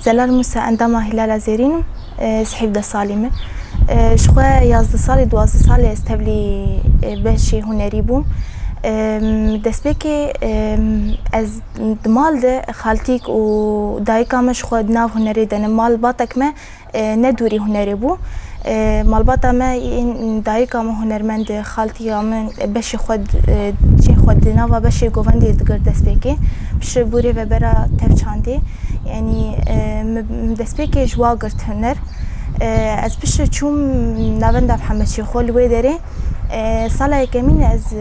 Zelal Musa endama Hilala Zêrîn im. Ez hîvdeh salî me. Ji xwe yazdeh salî, duwazdeh salî ez tevlî beşê hunerî bûm. Destpêkê ez di mal de xaltîk û dayika me ji xwe di nav hunerê de ne. Malbatek me ne dûrî hunerê bû. Malbata me yên dayika min hunermend e, xaltiya min beşê xwe cihê xwe di nava beşê govendê digir destpêkê. Piştre bûrê vebera tev çandê. Yanî min destpêkê ji wa girt huner. Ez piştre çûm navenda Hemedşêxo li wê derê. Sala yekemîn ez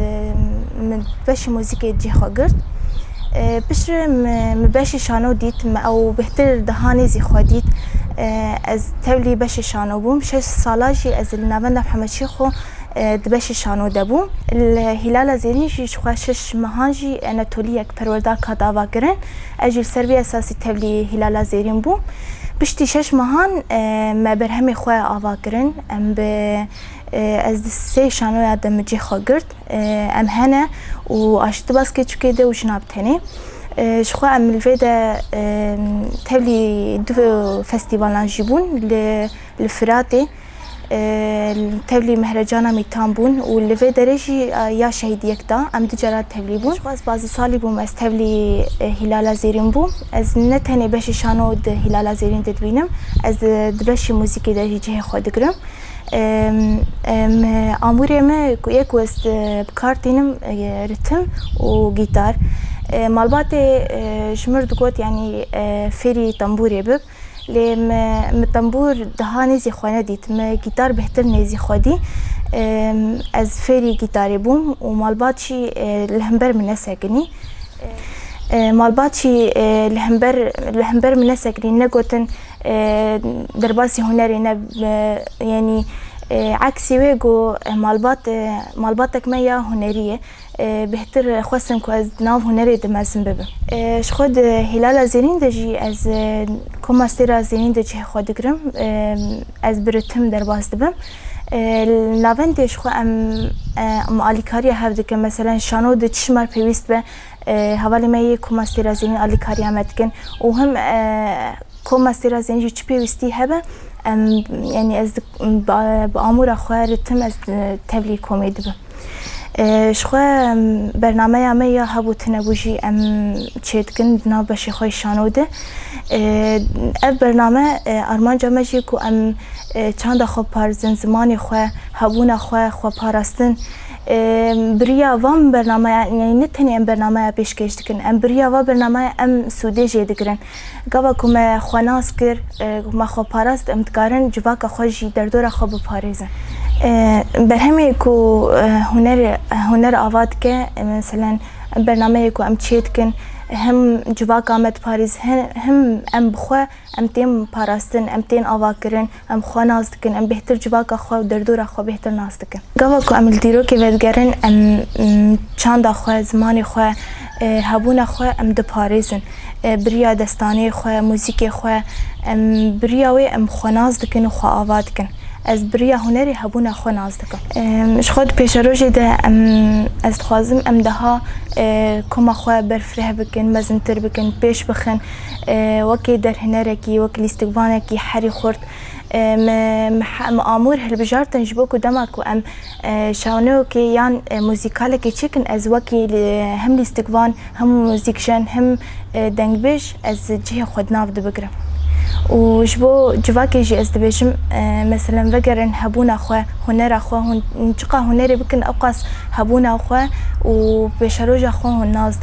min beşê muzîkê cih xwe girt. Piştre min beşê şano dît, min ew bêhtir dihanê zî xwe dît. Ez tevlî beşê şano bûm. Şeş sala jî ez li navenda hemûçî xwe di beşê şano de bûm. Li Hîlala Zêrîn jî ji xwe şeş mehan jî Anatoliyek perwerdak hat avakirin. Ez jî li ser vî esasî tevlî Hîlala Zêrîn bûm. Piştî şeş mehan me berhemê xwe avakirin. Em bi Ez di sê şanoya de micê xwe girt. Em hene û aşî di baskê çikê de û jina bi tenê. Ji xwe em li vê de tevlî du festîvalan jî bûn li li Firatê. Tevlî Mehrecana Mîtan bûn û li vê derê jî ya şehîdiyek da em du caran tevlî bûn. Ji xwe ez pazdeh salî bûm ez tevlî Hîlala Zêrîn bûm. Ez ne tenê beşê şano di Hîlala Zêrîn de dibînim, ez di beşê muzîkê de jî cihê xwe digirim. Amûrê me ku yê ku ez bi kar tînim ritim û gîtar. Malbatê ji min re digot yanî fêrî tembûrê bib lê me min tembûr daha nêzî xwe nedît. Me gîtar bêhtir nêzî xwe dî. Ez fêrî gîtarê bûm û malbat jî li hember min nesekinî. Malbat jî li hember li hember min nesekinî negotin. Derbasî hunerê ne yenî eksî wê ku malbat malbatek me ya hunerî ye. Bêhtir xwestin ku ez di nav hunerê de mezin bibim. Ji xwe di Hîlala Zênîn de jî ez koma sêra zênîn de cihê xwe digirim. Ez bi ritim derbas dibim. Li navendê ji xwe em alîkariya hev dikim. Meselen şano di çi ji me re pêwîst be Hevalê me yê ku mastêra zênî alîkariya me dikin û him ku mastêra zênî jî çi pêwîstî hebe em yanî ez bi amûra xwe re tim ez tevlî komê dibim. Ji xwe bernameya me ya hebû tunebû jî em çêdikin di nav beşê xwe yê şano de. Ev bername armanca me jî ye ku em çanda xwe biparêzin, zimanê xwe, hebûna xwe, xweparastin, Biriya van bernameyan yanî ne tenê em bernameya pêşkêş dikin, em biriya va bernameyê em sûdê jê digirin. Gava ku me xwe nas kir, me xwe parast em dikarin civaka xwe jî derdora xwe biparêzin. Berhemê ku huner huner ava dike meselen bernameyê ku em çêdikin hem civaka me diparêz hem em bi xwe. Em tên parastin, em tên avakirin, em xwe nas dikin, em bêhtir civaka xwe û derdora xwe bêhtir nas dikin. Gava ku em li dîrokê vedigerin em çanda xwe, zimanê xwe, hebûna xwe em diparêzin. Bi riya destanê xwe, muzîkê xwe em bi riya wê em xwe nas dikin û xwe ava dikin. Ez bi riya hunerê hebûna xwe nas dikim. Ji xwe di pêşerojê de em ez dixwazim em deha koma xwe berfireh bikin, mezintir bikin, pêş bixin. Wekî derhênerekî, wekî lîstikvanekî herî xurt min amûr hilbijartin ji bo ku dema ku em şaneyokê yan muzîkalekê çêkin ez wekî him lîstikvan him muzîkjen him dengbêj ez cihê xwe di nav de bigirim û ji bo civakê jî ez dibêjim meselem vegerin hebûna xwe hunera xwe hûn çiqas hunerê bikin ewqas hebûna xwe û pêşeroja xwe hûn nas didin.